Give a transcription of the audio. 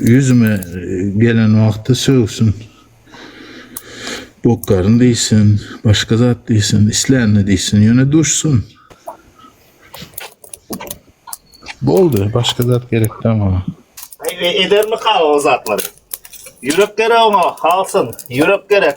Yüzüme gelen wagty sögsin. Bokaryn diýsin, başga zat diýsin, islänini diýsin, ýöne duşsun. Boldy, başga zat gerek däl maňa. Edermi kal o zatlar? Yürek gerek ona, halsyn. Yürek gerek.